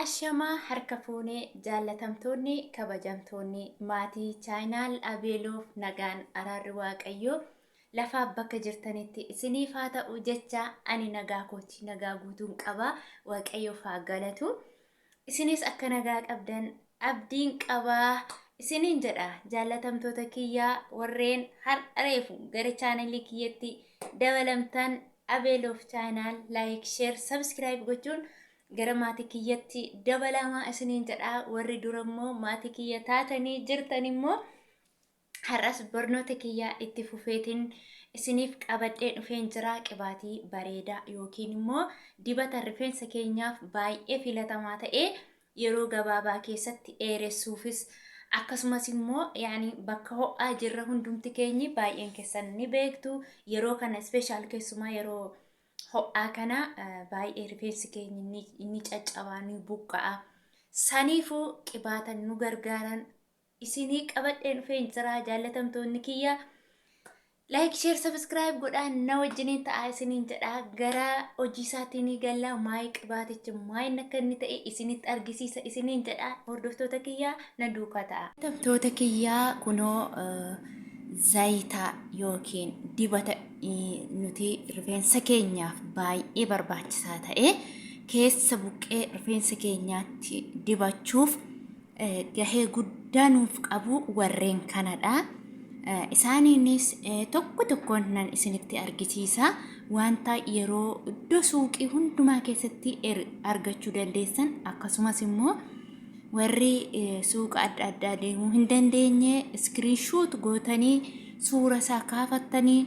Ashamaa harka fuune jaallatamtoonni kabajamtoonni maatii chaayinaal Abeeloof nagaan araarri waaqayyoo lafaaf bakka jirtanitti isiniif haa ta'u jecha ani nagaa kooti nagaa guutuun qaba waaqayyoof haa galatu isinis akka nagaa qabdan abdiin qaba isiniin jedha jaallatamtoota kiyya warreen har'a reefu gara chaanalii kiyyatti dabalamtan Abeel of Channel like share subscribe gochuun gara maatii kiyyatti dabalamaa isiniin jedha warri dura immoo maatii kiyya taatanii jirtan immoo Har'as barnoota kiyya itti fufeetiin isiniif qabadhee dhufeen jira qibaatii bareedaa yookiin immoo dibata rifeensa keenyaaf baay'ee filatamaa ta'e yeroo gabaabaa keessatti dheeressuufis akkasumas immoo yaani bakka ho'aa jirra hundumti keenyi baay'een keessan ni beektu yeroo kana ispeeshaal keessumaa yeroo ho'aa kana eh, baay'ee rifeensi keenya inni inni caccabaa ni buqqa'a. Saniifuu qibaata nu gargaaran isinii qabadhee dhufeen jiraa jaallatamtoonni kiyya like share subscribe godhaa na wajjiniin ta'aa isiniin jedhaa gara hojii isaatiin gallaa maayii qibaatichi maayin akka inni ta'e isinitti argisiisa isiniin jedhaa hordoftoota kiyyaa na duukaa ta'a. Hordoftoota kiyyaa kunoo zayitaa yookiin dibata nuti rifeensa keenyaaf baay'ee barbaachisaa ta'e keessa buqqee rifeensa keenyaatti dibachuuf eh, gahee guddaa nuuf qabu warreen kanadha. Eh, isaaniinis eh, tokko tokkoon nan isinitti argisiisa. Wanta yeroo iddoo suuqii hundumaa keessatti er- argachuu dandeessan akkasumas immoo warri eh, suuqa adda addaa deemuu hin dandeenye iskiriinshoot gootanii suura isaa kaafattanii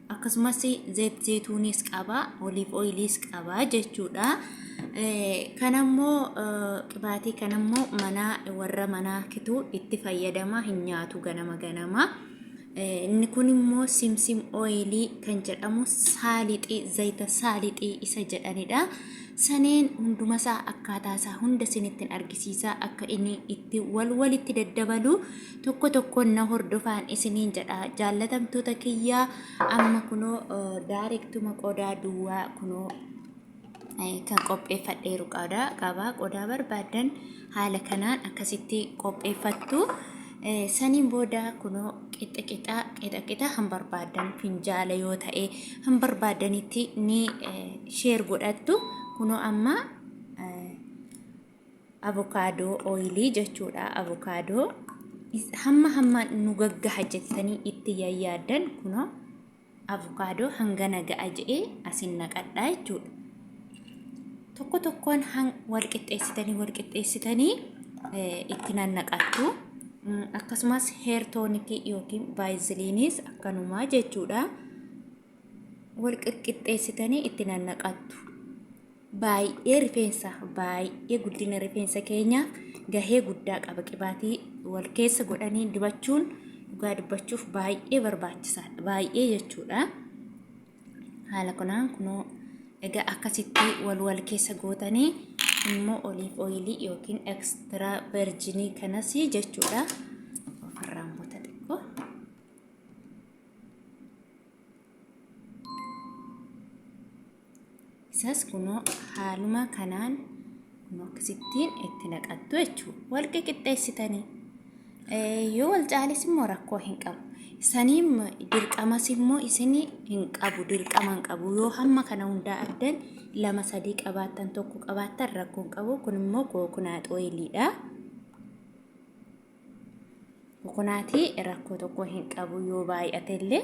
akkasumas zeet zeetuuniis qaba oliif ooyiliis qaba jechuudha kanammoo qibaatii kanammoo manaa warra manaa kituu itti fayyadama hin nyaatu ganama ganama inni kun immoo simsim ooyilii kan jedhamu saalixii zayita saalixii isa jedhanidha saneen hundumasaa akkaataasaa hunda sinittiin argisiisaa akka inni itti wal walitti daddabalu tokko tokkoon na hordofaan isiniin jedha jaallatamtoota kiyyaa amma kunoo daarektuma qodaa duwwaa kunoo kan qopheeffadheeru qodaa qabaa qodaa barbaadan haala kanaan akkasitti qopheeffattu saniin booda kunoo qixa qixa qixa qixa kan barbaadan finjaala yoo ta'e kan barbaadanitti ni sheer godhattu kunoo amma avokaadoo ooyilii jechuudha avokaadoo hamma hamma nu gaggaha jettanii itti yaaddan kunoo avokaadoo hangana ga'a je'ee asin naqadhaa jechuudha tokko tokkoon wal qixxeessitanii wal qixxeessitanii itti nannaqattu akkasumas heertoonikii yookiin baayiziliinis akkanumaa jechuudha wal qixxeessitanii itti nannaqattu. baay'ee rifeensa baay'ee guddina rifeensa keenyaaf gahee guddaa qaba qibaatii wal keessa godhanii dibachuun dhugaa dubbachuuf baay'ee barbaachisaadha baay'ee jechuudha haala kanaan kunoo egaa akkasitti wal wal keessa gootanii immoo oliif ooyilii yookiin ekstiraa verjinii kanas jechuudha ofirraan goota xiqqoo Isas kunoo haaluma kanaan kunoo akkasittiin itti naqattu jechuudha. Wal qiqixxeessitanii. Yoo wal caalis immoo rakkoo hin qabu. Saniin dirqamas immoo isin hin qabu dirqama hin qabu. Yoo hamma kana hundaa addan lama sadii qabaattan tokko qabaattan rakkoo hin qabu. Kun immoo kookunaat ooyiliidha. Kookunaatii rakkoo tokko hin qabu yoo baay'ate illee.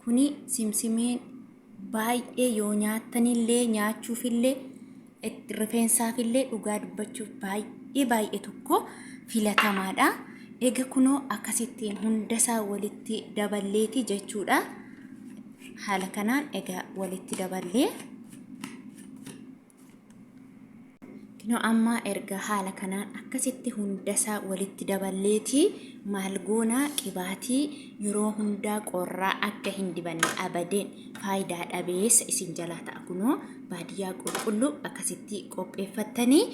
Kuni simsimeen baay'ee yoo nyaattanillee nyaachuufillee itti- rifeensaafillee dhugaa dubbachuuf baay'ee baay'ee tokko filatamaadha. Ega kunoo akkasittiin hundasaa walitti daballeeti jechuudha. Haala kanaan ega walitti daballee. Kinoo amma erga haala kanaan akkasitti hundasaa walitti daballeetii maal goonaa qibaatii yeroo hundaa qorraa akka hin dibanne abadeen faayidaa dhabeessa isin jalaa ta'a kunoo baadiyyaa qulqulluu akkasitti qopheeffattanii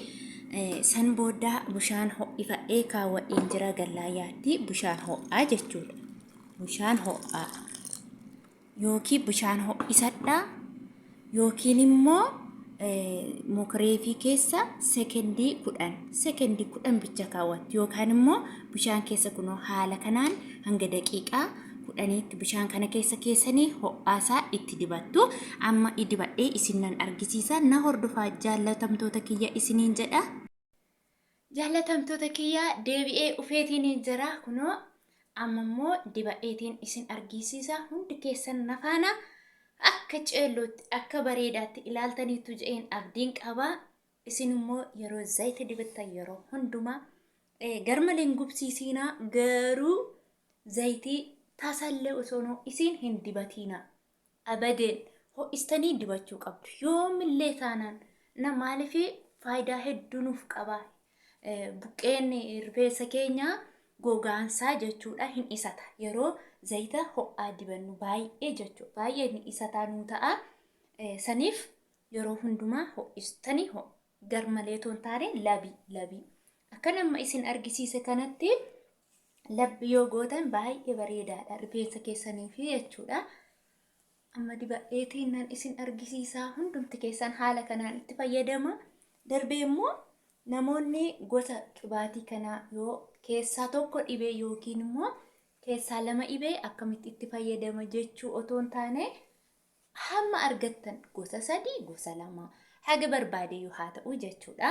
eh, san booda bishaan ho'ifadhee kaawwadheen jira gallaayaatti bishaan ho'aa jechuudha bishaan ho'aa yookiin bishaan ho'isadhaa yookiin immoo mokreefii keessa sekendii kudhan sekendii kudhan bicha kaawwatti yookaan immoo bishaan keessa kunoo haala kanaan hanga daqiiqaa kudhaniitti bishaan kana keessa keessanii ho'aasaa itti dibattu amma idibadhee isin nan argisiisa na hordofaa jaallatamtoota kiyya isiniin jedha. Jaallatamtoota kiyya deebi'ee dhufeetiiniin jira kunoo amma immoo dibadheetiin isin argiisiisa hundi keessan nafaana akka ceellootti akka bareedaatti ilaaltaniittu je'een abdiin qaba isin immoo yeroo zayita dibattan yeroo hundumaa eh, garmalee hin gubsiisiinaa garuu zayitii tasallee osoonoo isin hin dibatiinaa Abadeen! Ho'istanii dibachuu qabdu. Yoomillee taanaan na maaliif faayidaa hedduu nuuf qaba. Buqqeen rifeensa keenyaa gogaansaa jechuudha hin dhisata. Yeroo zayita ho'aa dibannu baay'ee jechuudha. Baay'ee hin dhisataa nuu ta'a. Saniif yeroo hundumaa ho'istanii ho garmalee toon taane labii labii. Akkan amma isin argisiise kanatti Labbi yoo gootan baay'ee bareedaadha rifeensa keessanii fi jechuudha. Amma dibadheetiin nan isin argisiisaa hundumti keessan haala kanaan itti fayyadama. Darbee immoo namoonni gosa qibaatii kanaa yoo keessaa tokko dhibee yookiin immoo keessaa lama dhibee akkamitti itti fayyadama jechuu otoo hin taane hamma argattan gosa sadii gosa lama haga barbaadeyyuu haa ta'u jechuudha.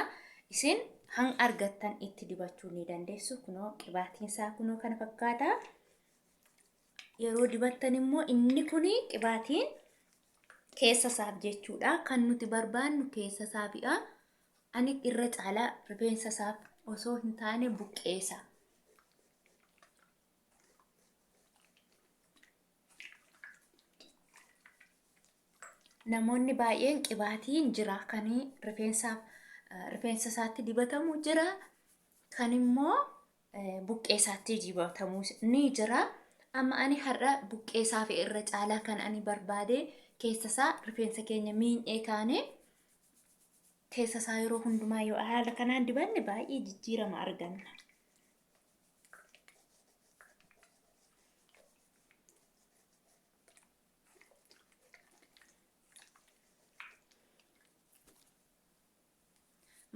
Isin hanga argattan itti dibachuu ni dandeessu. Kunoo qibaatiin isaa kunoo kana fakkaata. Yeroo dibattan immoo inni kun qibaatiin keessa isaaf jechuudha. Kan nuti barbaannu keessa isaafidha. Ani irra caalaa rifeensa isaaf osoo hin taane buqqeessa. namoonni baay'een qibaatiin jira kan rifeensaaf eh, rifeensa isaatti dibatamu jira kan immoo eh, buqqee isaatti dibatamu ni jira amma ani har'a buqqee isaa fi irra caalaa kan ani barbaade keessa isaa rifeensa keenya miinyee kaane keessa isaa yeroo hundumaa yoo haala kanaan dibanne baay'ee jijjiirama arganna.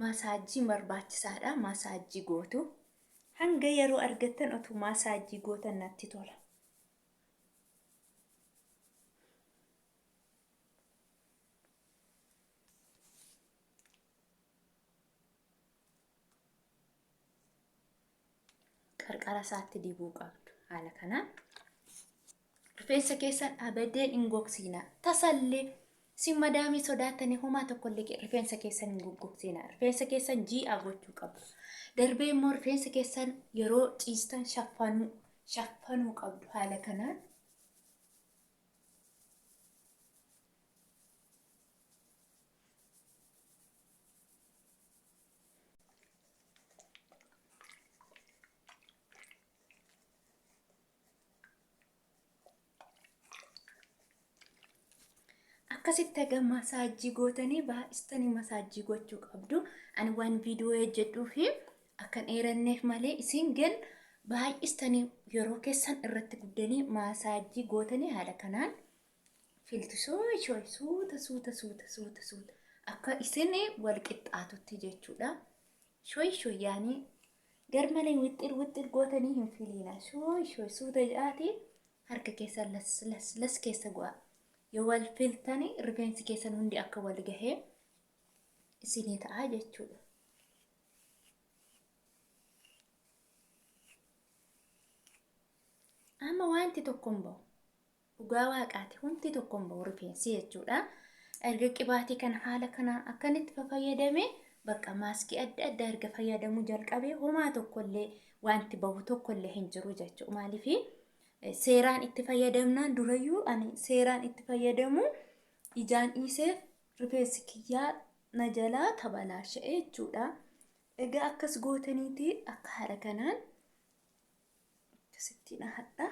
maasaajjiin barbaachisaadha maasaajjii gootu hanga yeroo argattan otuu maasaajjii gootan natti tola qarqara isaatti dibuu qabdu haala kanaan rifeensa keessan abadeen hin gogsiina tasallee si madaamii sodaattanii homaa tokkollee ke- rifeensa keessan hin gogsiina rifeensa keessan ji'a gochuu qabdu darbee immoo rifeensa keessan yeroo ciistan shaffanuu shaffanuu qabdu haala kanaan akkasitti egaa masaajii gootanii baay'istanii masaajii gochuu qabdu. Ani waan viidiyoo hojjedhuu fi akkan dheeranneef malee isin gan baay'istanii yeroo keessan irratti guddanii masaajii gootanii haala kanaan filtu sooshoo suuta suuta suuta suuta suuta akka isin wal qixxaatutti jechuudha. Shoy shoy yaani garmalee wixxir wixxir gootanii hin filiina. Shoy shoy suuta jedhaati harka keessa las las las keessa go'a. Yoo wal filtanii rifeensi keessan hundi akka wal gahee isinii ta'a jechuudha. Amma wanti tokko hin ba'u. Dhugaa waaqaati wanti tokko hin ba'u rifeensi jechuudha. Erga qibaatii kana haala kanaan akkan itti fayyadame bakka maaskii adda addaa erga fayyadamuu jalqabee homaa tokkollee wanti bahu tokkollee hin jiru jechuudha. Maaliif seeraan itti fayyadamnaan durayyuu ani seeraan itti fayyadamu ijaan dhiiseef rifeensi kiyyaa na jalaa tabalaasha'e jechuudha. Egaa akkas gootaniiti akka haala kanaan akkasittiin hadhaa.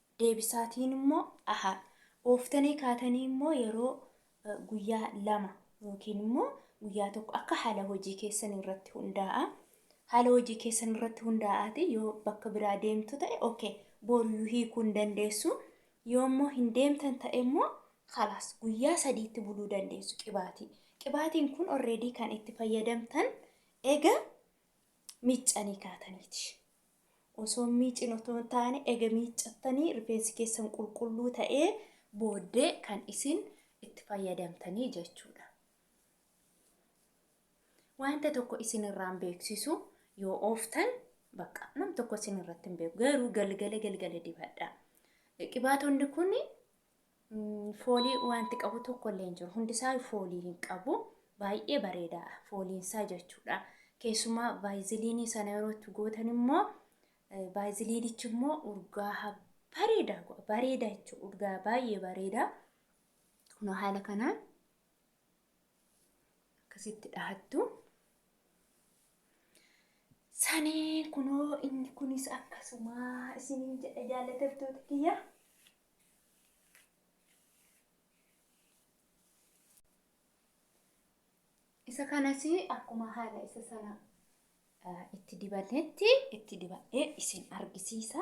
deebisaatiin immoo aha. Ooftanii kaatanii immoo yeroo guyyaa lama yookiin immoo guyyaa tokko akka haala hojii keessan irratti hundaa'a. Haala hojii keessan irratti hundaa'aati yoo bakka biraa deemtu ta'e okay booriyuu hiikuu hin dandeessu. Yoo immoo hin deemtan ta'e immoo khalaas guyyaa sadiitti buluu dandeessu qibaatii. Qibaatiin kun already kan itti fayyadamtan ega miiccanii kaataniiti. Osoo hin miicin otoo hin taane ega miiccattanii rifeensi keessan qulqulluu ta'ee booddee kan isin itti fayyadamtanii jechuudha. Wanta tokko isin irraan beeksisu yoo ooftan bakka nam tokko isin irratti hin beeku garuu galgala galgala dibadha. Qibaatonni kun Foolii wanti qabu tokko illee hin jiru. Hundisaa foolii hin qabu. Baay'ee bareeda fooliinsaa jechuudha. Keessumaa vaayiziliinii sana yeroo itti gootan immoo vaayiziliinichi immoo urgaaha bareeda bareeda jechuudha. Urgaa baay'ee bareeda. Kunoo haala kanaan akkasitti dhahattu. Sanee kunoo inni kunis akkasuma isiniin jedha jaallatamtoota kiyya. isa kanas akkuma haala isa sana eh, itti dibannetti itti dibadhee isin argisiisa.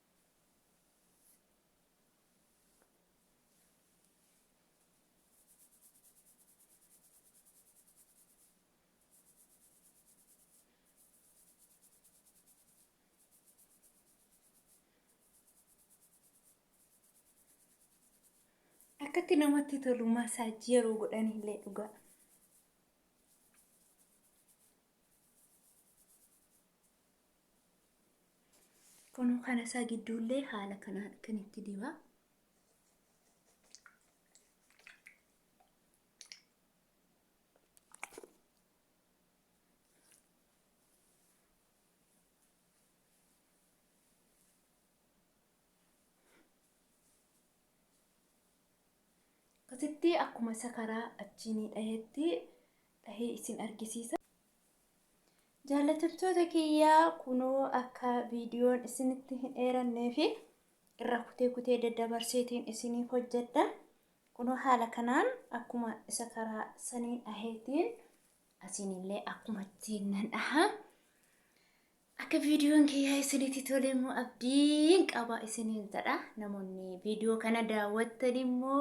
akkatti namatti tolu masaajii yeroo godhan illee dhugaa. Kunoo kana isaa gidduullee haala kanaan akkan itti dibaa. Akkasitti akkuma isa karaa achiinii dhahetti dhahee isin argisiisa. Jaallatamtoota kiyyaa kunoo akka viidiyoon isinitti hin dheerannee fi irra kutee kutee daddabarseetiin isiniif hojjedha. Kunoo haala kanaan akkuma isa karaa saniin dhaheetiin asiinillee akkuma ittiin nan dhaha. Akka viidiyoon kiyyaa isinitti tole immoo abdiin qaba isiniin jedha. Namoonni viidiyoo kana daawwattan immoo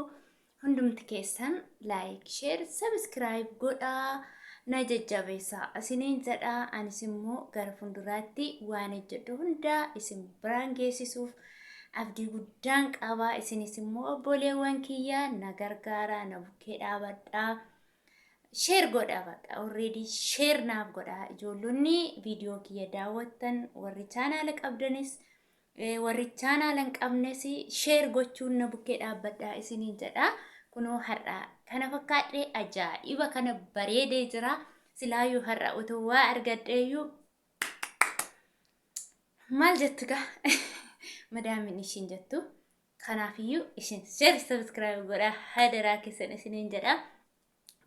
hundumti keessan laayik, sheer, sabiskiraayib godhaa na jajjabeessaa isiniin jedha. Anis immoo gara fuulduraatti waan hojjedhu hundaa isin biraan geessisuuf abdii guddaan qaba. Isinis immoo obboleewwan kiyyaa na gargaaraa na bukkee dhaabadhaa. Share godha baqa already share naaf godha ijoollonni viidiyoo kiyya daawwattan warri chaanaala qabdanis eh, warri chaanaala hin qabnes share gochuun na bukkee dhaabbadha isiniin jedha kunoo har'a kana fakkaadhe ajaa'iba kana bareedee jira silaayyuu har'a otoo waa argadheeyyuu maal jettu gaa madaamin ishiin jettu Kanaafiyyuu isin share subscribe godhaa hadaraa keessan isiniin jedha.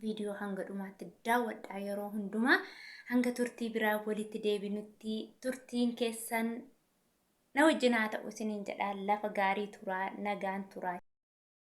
Viidiyoo hanga dhumaatti daawwadhaa yeroo hundumaa hanga turtii biraa walitti deebinutti turtiin keessan na wajjin haa ta'u isiniin jedha lafa gaarii turaa nagaan turaa.